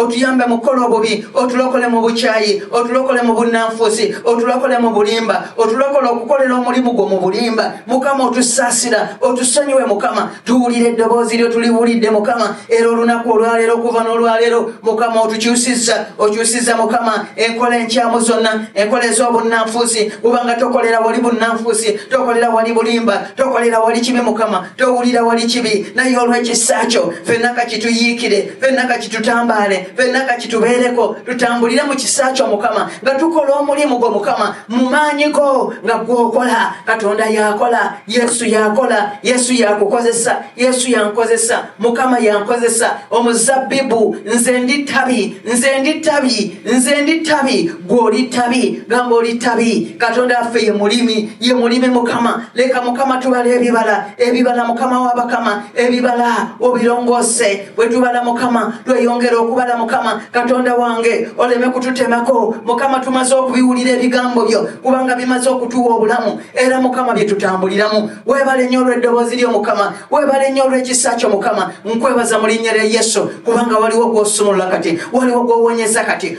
otuyambe mu kukola obubi otulokole mu bukyayi otulokole mu bunnanfuusi otulokole mu bulimba otulokole okukolera omulimu gwo mu bulimba mukama otusaasira otusonyiwe mukama tuwulira eddoboozi lyo tuliwulidde mukama era olunaku olwaleero okuva n'olwaleero mukama otukyusiza okyusiza mukama enkola enkyamu zonna enkola ez'obunnanfuusi kubanga tokolera wali bunnanfuusi tokolera wali bulimba tokolera wali kibi mukama towulira wali kibi naye olw'ekisa kyo fenna kakituyiikire fenna kakitutambaale fenna kakitubeereko tutambulire mu kisa kyo mukama nga tukola omulimu gwo mukama mu maanyi go nga gwokola katonda yakola yesu yakola yesu yakukozesa yesu yankozesa mukama yankozesa omuzabbibu nze ndi ttabi nze ndi ttabi nze ndi ttabi gwoli ttabi gamba oli ttabi katonda affe ye mulimi ye mulimi mukama leka mukama tubala ebibala ebibala mukama wabakama ebibala obirongose bwetubala mukama tweyongera okubala mukama katonda wange oleme kututemako mukama tumaze okubiwulira ebigambo byo kubanga bimaze okutuwa obulamu era mukama byetutambuliramu webale nnyo olw'eddoboozi lyo mukama webale nnyo olw'ekisa kyo mukama nkwebaza mu linnya lya yesu kubanga waliwo gwosumulula kati waliwo gwowonyeza kati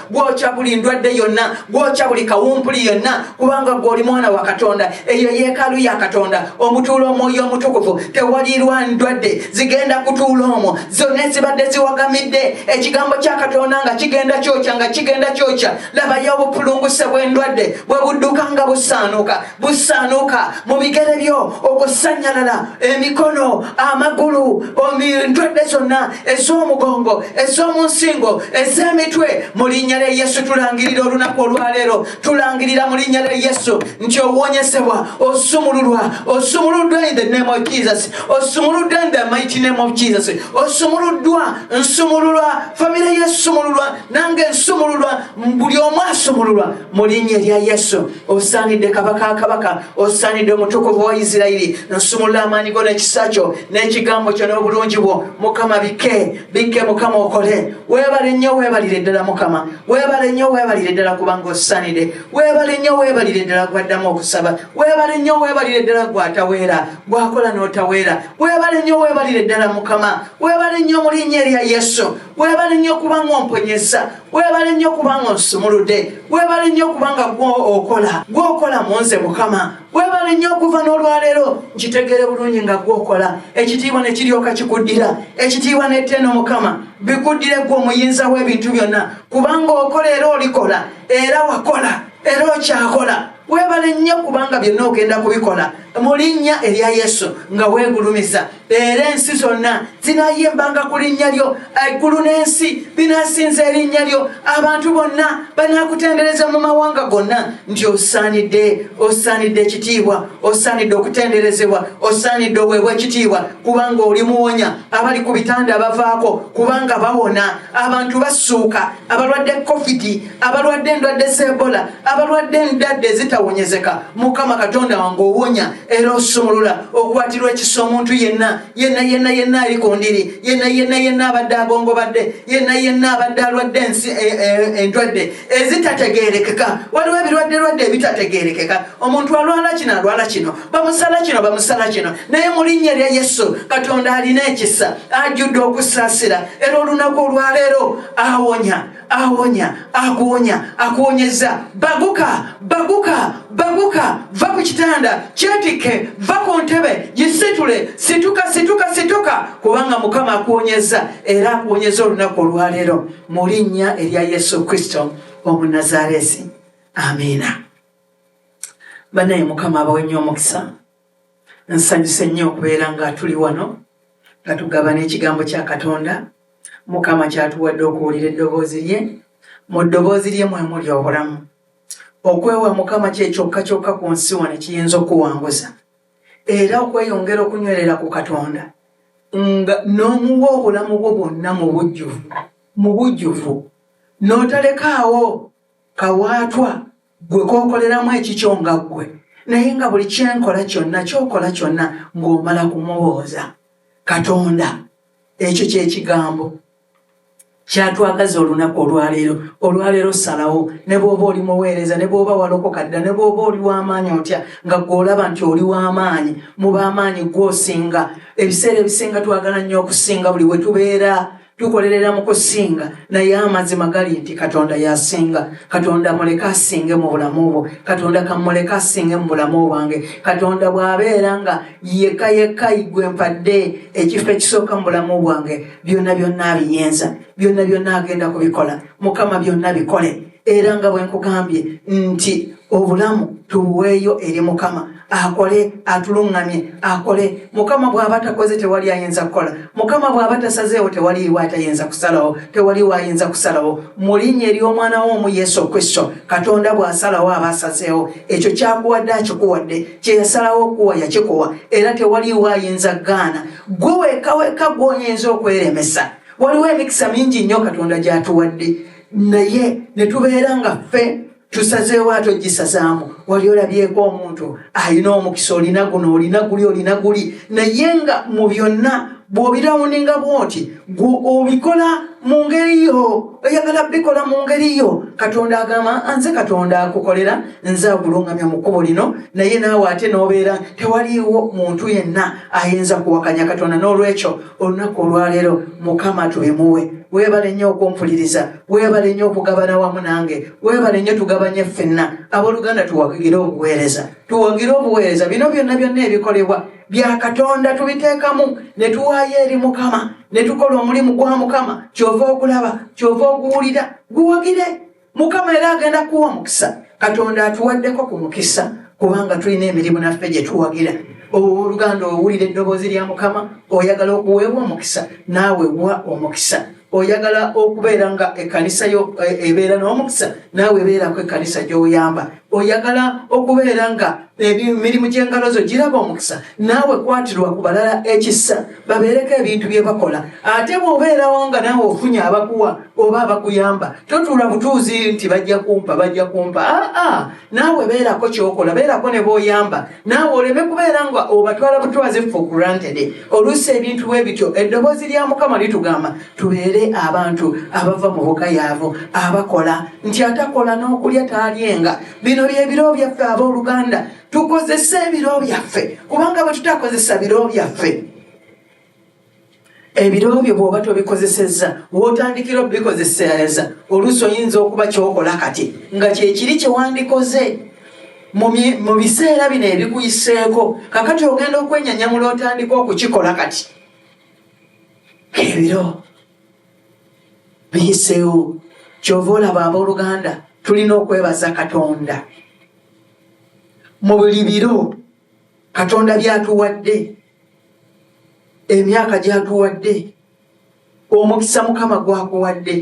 gwokya buli ndwadde yonna gwokya buli kawumpuli yonna kubanga gweoli mwana wa katonda eyo yeekaalu ya katonda omutuula omwoyo omutukuvu tewaliirwa ndwadde zigenda kutuula omwo zonna ezibadde ziwagamidde ekigambo kya katonda nga kigenda kyokya nga kigenda kyokya labayo obupulunguse bw'endwadde bwe budduka nga busaanuka busaanuuka mu bigere byo okusanyalala emikono amagulu endwadde zonna ez'omugongo ez'omunsingo ez'emitwe mu linnya lya yesu tulangirira olunaku olwaleero tulangirira mu linnya lya yesu nti owonyesebwa osumululwa osumuluddwa in the name of jesus osumuluddwa in the mighty name of jesus osumuluddwa nsumululwa famire yesumululwa nange nsumululwa buli omu asumululwa mu linnya erya yesu osaanidde kabaka akabaka osaanidde omutukuvu wa isirairi nsumulula amaanyi go n'ekisa kyo n'ekigambo kyo n'obulungi bwo mukama bike bike mukama okole weebale nnyo weebalire ddala mukama weebale nnyo weebalire ddala kubanga osaanidde weebale nnyo weebalire ddala gwaddamu okusaba weebale nnyo weebalire ddala gwataweera gwakola n'otaweera weebale nnyo weebalire ddala mukama weebale nnyo mu linnya erya yesu webale nnyo kubanga omponyeza webale nnyo kubanga onsumulude webale nnyo kubanga gwokola gwokola munze mukama webale nnyo okuva n'olwaleero nkitegere bulungi nga gwokola ekitiibwa ne kiryoka kikuddira ekitiibwa neteeno mukama bikuddire gwe omuyinza w'ebintu byonna kubanga okola era olikola era wakola era okyakola webale nnyo kubanga byonna ogenda kubikola mu linnya erya yesu nga weegulumiza era ensi zonna zinayimbanga ku linnya lyo eggulu n'ensi binasinza erinnya lyo abantu bonna banakutendereza mu mawanga gonna nti osaanidde osaanidde ekitiibwa osaanidde okutenderezebwa osaanidde oweebwa ekitiibwa kubanga oli muwonya abali ku bitanda abavaako kubanga bawona abantu basuuka abalwadde covid abalwadde endwadde z'ebola abalwadde endadde ezitawonyezeka mukama katonda wange owonya era osumulula okwatirwa ekisa omuntu yenna yenna yenna yenna ali ku ndiri yenna yenna yenna abadde agongobadde yenna yenna abadde alwadde ensi e, e, endwadde ezitategerekeka waliwo ebirwadde lwadde ebitategerekeka omuntu alwala kino alwala kino bamusala kino bamusala kino naye mu linnya lya yesu katonda alina ekisa ajjudde okusaasira era olunaku olwaleero awonya awonya akuwonya akuwonyeza baguka baguka baguka va ku kitanda kyetikke va ku ntebe gisitule situka situka situka kubanga mukama akuwonyeza era akuwonyeza olunaku olwaleero mu linnya erya yesu kristo omunazaresi amiina banaye mukama abawe nnyo omukisa nsanyuse nnyo okubeera nga tuli wano nga tugaba n'ekigambo kya katonda mukama kyatuwadde okuwulira eddoboozi lye mu ddoboozi lye mwe muli obulamu okwewa mukama kyekyokka kyokka ku nsi wano ekiyinza okuwanguza era okweyongera okunywerera ku katonda nga n'omuwa obulamu bwo bwonna mu bujjuvu mu bujjuvu n'otalekaawo kawaatwa gwe kokoleramu ekikyo nga ggwe naye nga buli kyenkola kyonna kyokola kyonna ng'omala kumubooza katonda ekyo kyekigambo kyatwagaza olunaku olwaleero olwaleero salawo ne bwoba oli muweereza ne bwoba walokoka dda ne bwoba oli w'amaanyi otya nga gweolaba nti oli w'amaanyi mu b'amaanyi gwosinga ebiseera ebisinga twagala nnyo okusinga buli we tubeera tukolerera mu kusinga naye amazima gali nti katonda yasinga katonda muleke asinge mu bulamu bwo katonda kamuleke asinge mu bulamu bwange katonda bw'abeera nga yeka yeka igwe mpadde ekifo ekisooka mu bulamu bwange byonna byonna abiyinza byonna byonna agenda kubikola mukama byonna bikole era nga bwe nkugambye nti obulamu tuweeyo eri mukama akole atuluŋŋamye akole mukama bw'aba takoze tewali ayinza kukola mukama bw'aba tasazeewo tewaliiwo atayinza kusalawo tewaliwo ayinza kusalawo mu linnya ery'omwana wo omu yesu kristo katonda bw'asalawo aba asazeewo ekyo kyakuwadde akikuwadde kye yasalawo okuwa yakikuwa era tewaliwo ayinza gaana gwe wekaweka gw'oyinza okweremesa waliwo emikisa mingi nnyo katonda gy'atuwadde naye ne tubeera nga ffe tusazeewo ate ogisazaamu wali olabyeko omuntu alina omukisa olina guno olina guli olina guli naye nga mu byonna bwobirawuninga bwoti gwe obikola mu ngeri yo oyagala bikola mu ngeri yo katonda agamba nze katonda akukolera nze agulungamya mu kkubo lino naye naawe ate n'obeera tewaliiwo muntu yenna ayinza kuwakanya katonda n'olwekyo olunaku olwaleero mukama tubimuwe webale nnyo okumpuliriza webale nnyo okugabana wamu nange webale nnyo tugabanye ffenna abooluganda tuwagire obuweereza tuwagire obuweereza bino byonna byonna ebikolebwa bya katonda tubiteekamu ne tuwaayo eri mukama ne tukola omulimu gwa mukama kyova okulaba kyova okuwulira guwagire mukama era agenda kuwa mukisa katonda atuwaddeko ku mukisa kubanga tulina emirimu naffe gye tuwagira owoluganda owulira eddoboozi lya mukama oyagala okuweebwa omukisa naawe wa omukisa oyagala okubeera nga ekkanisa yo e, ebeera n'omukisa naawe ebeerako ekkanisa gy'oyamba oyagala okubeera nga emirimu gy'engalo zo giraba omukisa naawe kwatirwa ku balala ekisa babeereko ebintu bye bakola ate bw'obeerawo nga naawe ofunye abakuwa oba abakuyamba totuula butuuzi nti bajja kumpa bajja kumpa aa naawe beerako kyokola beerako ne b'oyamba naawe oleme kubeera nga obatwala butwaze ffe okurantede oluusi ebintu bwe bityo eddoboozi lya mukama litugamba tubeere abantu abava mu bukayaavu abakola nti atakola n'okulya taalyenga bino byebiro byaffe ab'oluganda tukozese ebiro byaffe kubanga bwe tutakozesa biro byaffe ebiro byo bwoba tobikozesezza wotandikira obikozeseza oluusi oyinza okuba kyokola kati nga kyekiri kyewandikoze mu biseera bino ebikuyiseeko kakati ogenda okwenyanyamula otandika okukikola kati ebiro biyiseewo kyova olaba abooluganda tulina okwebaza katonda mu buli biro katonda byatuwadde emyaka gyatuwadde omukisa mukama gwakuwadde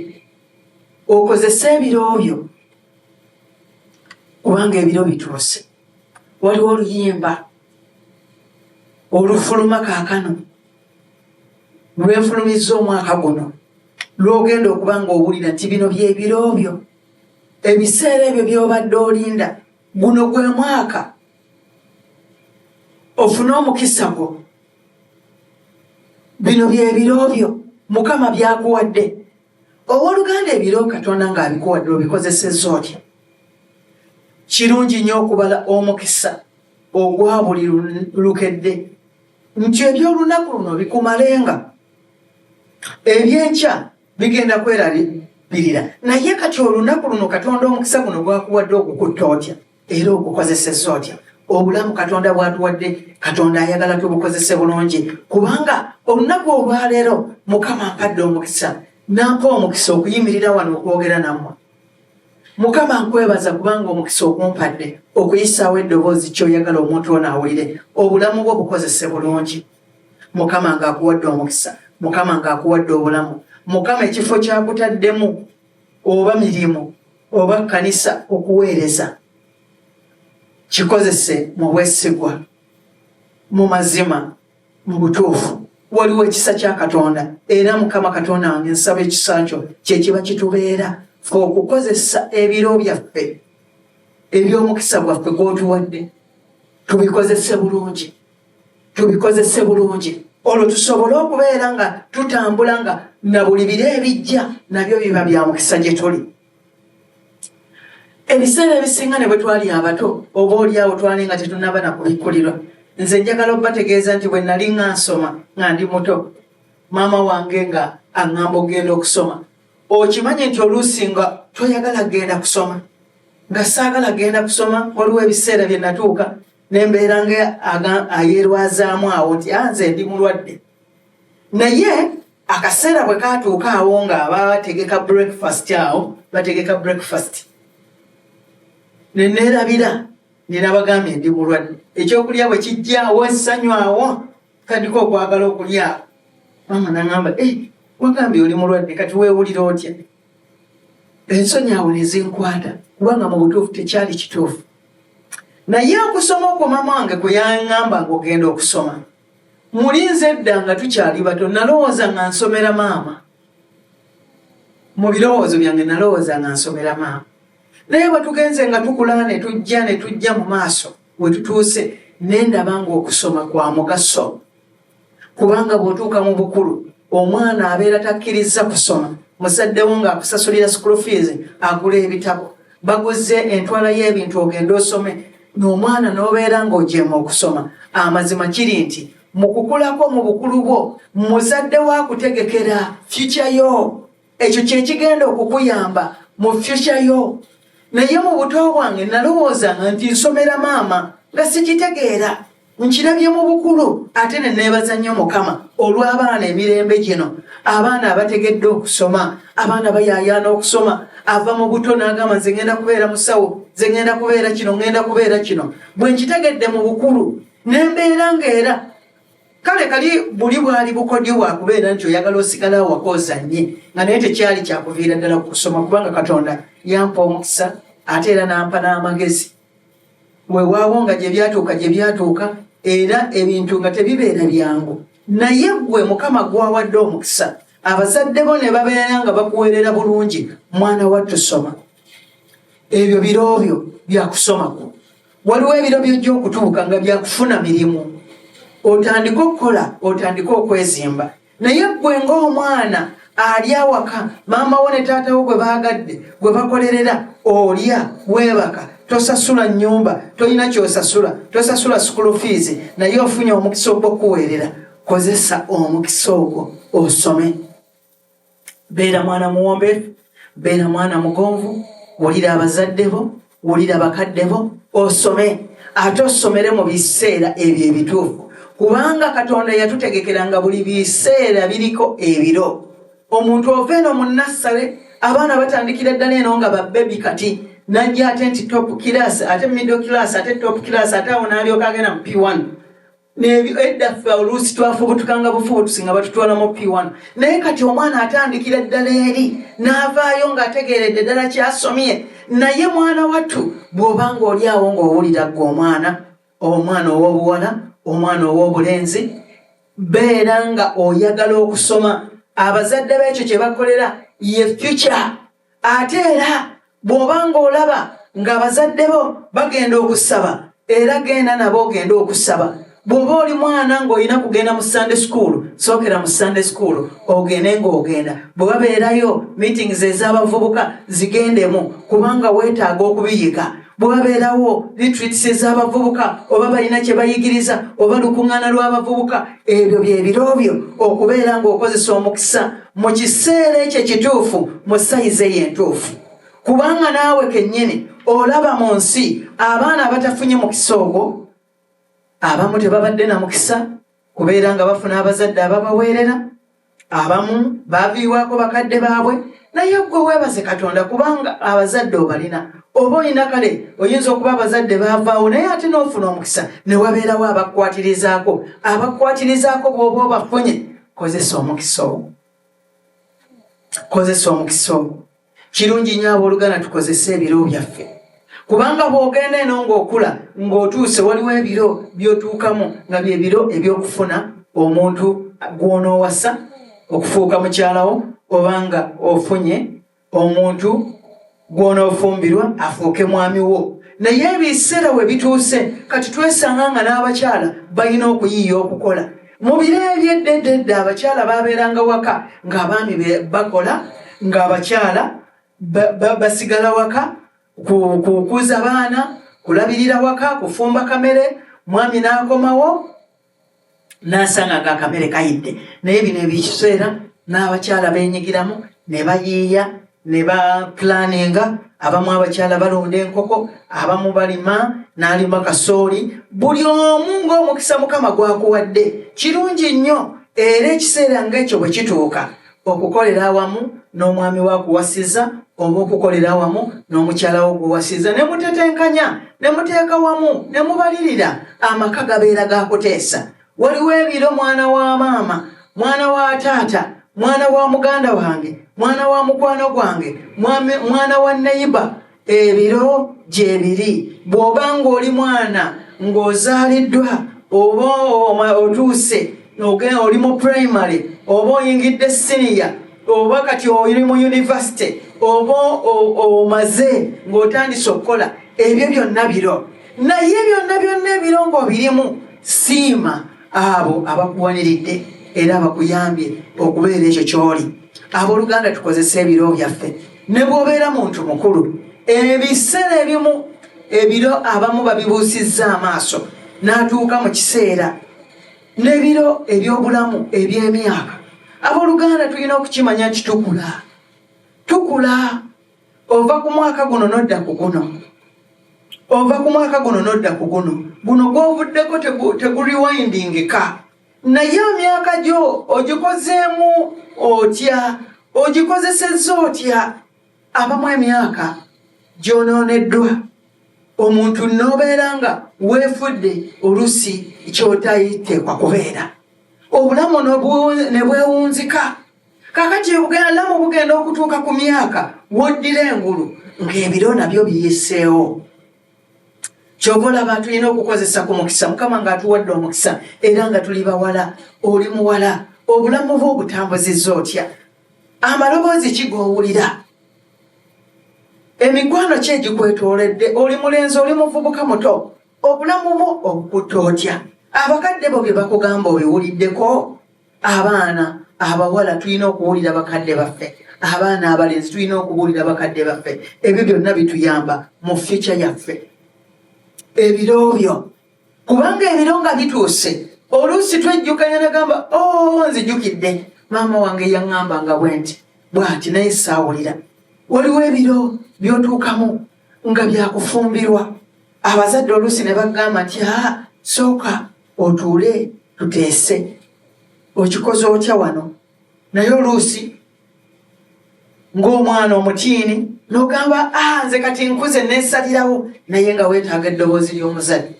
okozese ebiro byo kubanga ebiro bituuse waliwo oluyimba olufuluma kaakano lwenfulumizza omwaka guno lwogenda okuba nga owulira nti bino byebiro byo ebiseera ebyo byobadde olinda guno gwe mwaka ofune omukisa gwo bino byebiro byo mukama byakuwadde owoluganda ebiro katonda ngaabikuwadde obikozeseza otya kirungi nnyo okubala omukisa ogwa buli lukedde nti ebyolunaku luno bikumalenga ebyenkya bigenda kwerabirira naye kati olunaku luno katonda omukisa guno gwakuwadde okukutta otya era ogukozeseza otya obulamu katonda bwatuwadde katonda ayagala tubukozese bulungi kubanga olunaku olwaleero mukama mpadde omukisa nampa omukisa okuyimirira wano okwogera nammwe mukama nkwebaza kubanga omukisa okumpadde okuyisaawo eddoboozi kyoyagala omuntu ono awulire obulamu bwo bukozese bulungi mukama ngaakuwadde omukisa mukama ngaakuwadde obulamu mukama ekifo kyakutaddemu oba mirimu oba kkanisa okuweereza kikozese mu bwesigwa mu mazima mu butuufu waliwo ekisa kya katonda era mukama katonda wange nsaba ekisa kyo kyekiba kitubeera fe okukozesa ebiro byaffe eby'omukisa gwaffe gwotuwadde tubikozese bulungi tubikozese bulungi olwo tusobole okubeera nga tutambula nga na buli biro ebijja nabyo biba bya mukisa gye tuli ebiseera ebisinga ne bwe twali abato oba oliawo twali nga tetunaba na kubikkulirwa nze njagala okubategeeza nti bwe nali nga nsoma nga ndi muto maama wange nga aŋŋamba okugenda okusoma okimanyi nti oluusi nga toyagala kugenda kusoma nga saagala kugenda kusoma waliwo ebiseera bye natuuka nembeera nga ayerwazaamu awo nti anze ah, ndi mulwadde naye akaseera bwe katuuka awo nga abategeka breakfast awo bategeka breakfast neneerabira nenabagambye ndi mulwadde ekyokulya bwe kijja awo essanyu awo tandika okwagala okulya mama nagamba eh, wagambye oli mulwadde kati wewulira otya ensonyi awo nezinkwata kubanga mu butuufu tekyali kituufu naye okusoma okwo mama wange kwe yaŋamba nga ogenda okusoma muli nze edda nga tukyali bato nalowooza nga nsomera maama mu birowoozo byange nalowooza nga nsomera maama naye bwetugenze nga tukula ne tujja ne tujja mu maaso wetutuuse nendaba ngaokusoma kwa mugaso kubanga bwotuuka mu bukulu omwana abeera takkirizza kusoma muzaddewo ng'akusasulira school fees agula ebitabo baguzze entwala y'ebintu ogenda osome n'omwana n'obeera ng'ojeema okusoma amazima kiri nti mu kukulako mu bukulu bwo muzadde wa kutegekera fyukya yo ekyo kyekigenda okukuyamba mu fyusha yo naye mu buto bwange nalowoozanga nti nsomera maama nga sikitegeera nkirabye mu bukulu ate ne neebaza nnyo mukama olw'abaana emirembe gino abaana abategedde okusoma abaana bayayaana okusoma ava mu buto n'agamba nze ngenda kubeera musawo nze ngenda kubeera kino ngenda kubeera kino bwe nkitegedde mu bukulu ne mbeera ng'era kale kali buli bwali bukodyo bwakubeera nti oyagala osigala awaka ozanye nga naye tekyali kyakuviira ddala ku kusoma kubanga katonda yampa omukisa ate era nampa n'amagezi wewaawo nga gye byatuuka gye byatuuka era ebintu nga tebibeera byangu naye gwe mukama gwawadde omukisa abazadde bo ne babeera nga bakuweerera bulungi mwana wattu soma ebyo biroobyo byakusoma kwo waliwo ebiro byojja okutuuka nga byakufuna mirimu otandike okukola otandike okwezimba naye gwe ngaomwana ali awaka maama wo ne taatawo gwe baagadde gwe bakolerera olya weebaka tosasula nyumba tolina kyosasula tosasula sukulu fiizi naye ofunye omukisa ogwokuweerera kozesa omukisa ogwo osome beera mwana muwombeefu beera mwana mugonvu wulira abazadde bo wulira bakadde bo osome ate osomere mu biseera ebyo ebituufu kubanga katonda yatutegekera nga buli biseera biriko ebiro omuntu ova eno mu nassale abaana batandikira ddala eno nga babebi kati najja ate nti top class ate middle class ate top class ate awo nalyoka agenda mu p1 edda ffe oluusi twafubutukanga bufubutusi nga batutwala mu p1 naye kati omwana atandikira ddala eri n'avaayo ng'ategeeredde ddala kyasomye naye mwana wattu bw'oba ng'oli awo ng'owulira gwe omwana omwana ow'obuwala omwana ow'obulenzi beera nga oyagala okusoma abazadde b'ekyo kye bakolera ye fyuca ate era bw'oba ng'olaba ng'abazadde bo bagenda okusaba era genda nabo ogende okusaba bw'oba oli mwana ng'olina kugenda mu sande sukuulu sookera mu sande sukuulu ogende ng'ogenda bwe babeerayo meetings ez'abavubuka zigendemu kubanga weetaaga okubiyiga bwabeerawo litritsi ez'abavubuka oba balina kye bayigiriza oba lukuŋŋaana lw'abavubuka ebyo bye biro byo okubeera ng'okozesa omukisa mu kiseera ekyo ekituufu mu sayizi eyo entuufu kubanga naawe kennyini olaba mu nsi abaana abatafunye mukisa ogwo abamu tebabadde na mukisa kubeera nga bafuna abazadde ababaweerera abamu baviibwako bakadde baabwe naye gwe weebaze katonda kubanga abazadde obalina oba olina kale oyinza okuba abazadde baavaawo naye ate n'ofuna omukisa ne wabeerawo abakukwatirizaako abakukwatirizaako bw'oba obafunye kozesa omukisa ogwo kozesa omukisa ogwo kirungi nyo abooluganda tukozese ebiro byaffe kubanga bw'ogenda eno ng'okula ng'otuuse waliwo ebiro by'otuukamu nga bye biro eby'okufuna omuntu gw'onoowasa okufuuka mukyalawo obanga ofunye omuntu gw'onoofumbirwa afuuke mwami wo naye ebiseera we bituuse kati twesanga nga n'abakyala balina okuyiiya okukola mu biro ebyeddededde abakyala babeeranga waka ng'abaami bakola ng'abakyala basigala waka kukuza baana kulabirira waka kufumba kamere mwami n'akomawo nasanga nga akamere kayidde naye bino ebikiseera n'abakyala benyigiramu ne bayiiya ne bapulaninga abamu abakyala balonda enkoko abamu balima n'alima kasooli buli omu ng'omukisa mukama gwakuwadde kirungi nnyo era ekiseera ngaekyo bwe kituuka okukolera awamu n'omwami wa kuwasiza oba okukolera awamu n'omukyala wo guwasiza ne mutetenkanya ne muteeka wamu ne mubalirira amaka gabeera gakuteesa waliwo ebiro mwana wa maama mwana wa taata mwana wa muganda wange mwana wa mukwano gwange mwana wa neyiba ebiro gyebiri bw'oba ng'oli mwana ng'ozaaliddwa oba otuuse oli mu primary oba oyingidde siniya oba kati oli mu univesity oba omaze ng'otandise okukola ebyo byonna biro naye byonna byonna ebiro ng'obirimu siima abo abakuwaniridde era abakuyambye okubeera ekyo ky'oli abooluganda tukozesa ebiro byaffe ne bwobeera muntu mukulu ebiseera ebimu ebiro abamu babibuusizza amaaso n'atuuka mu kiseera n'ebiro eby'obulamu eby'emyaka abooluganda tulina okukimanya nti tukula tukula ova ku mwaka guno n'odda ku guno ova ku mwaka guno n'odda ku guno guno gw'ovuddeko teguriwindingika naye emyaka gyo ogikozeemu otya ogikozesezza otya abamu emyaka gyonooneddwa omuntu nobeera nga weefudde olusi kyotayiteekwa kubeera obulamu ne bwewunzika kakati obulamu bugenda okutuuka ku myaka woddira engulu ng'ebiro nabyo biyiseewo kyova olaba tulina okukozesa ku mukisa mukama nga atuwadde omukisa era nga tuli bawala oli muwala obulamu bwe obutambuziza otya amaloboozi kigowulira emikwano ki egikwetooledde oli mulenzi oli muvubuka muto obulamu bwo obukutte otya abakadde bo bye bakugamba obiwuliddeko abaana abawala tulina okuwulira bakadde baffe abaana abalenzi tulina okubuulira bakadde baffe ebyo byonna bituyamba mu fyuca yaffe ebiro byo kubanga ebiro nga bituuse oluusi twejjukanya nagamba o oh, nzijukidde maama wange yaŋŋamba nga bwe nti bwati naye saawulira waliwo ebiro byotuukamu nga byakufumbirwa abazadde oluusi ne bagamba nti a ah, sooka otuule tuteese okikoze otya wano naye oluusi ng'omwana omutiini nogamba a ah, nze kati nkuze nesalirawo naye nga weetaaga eddoboozi ly'omuzadde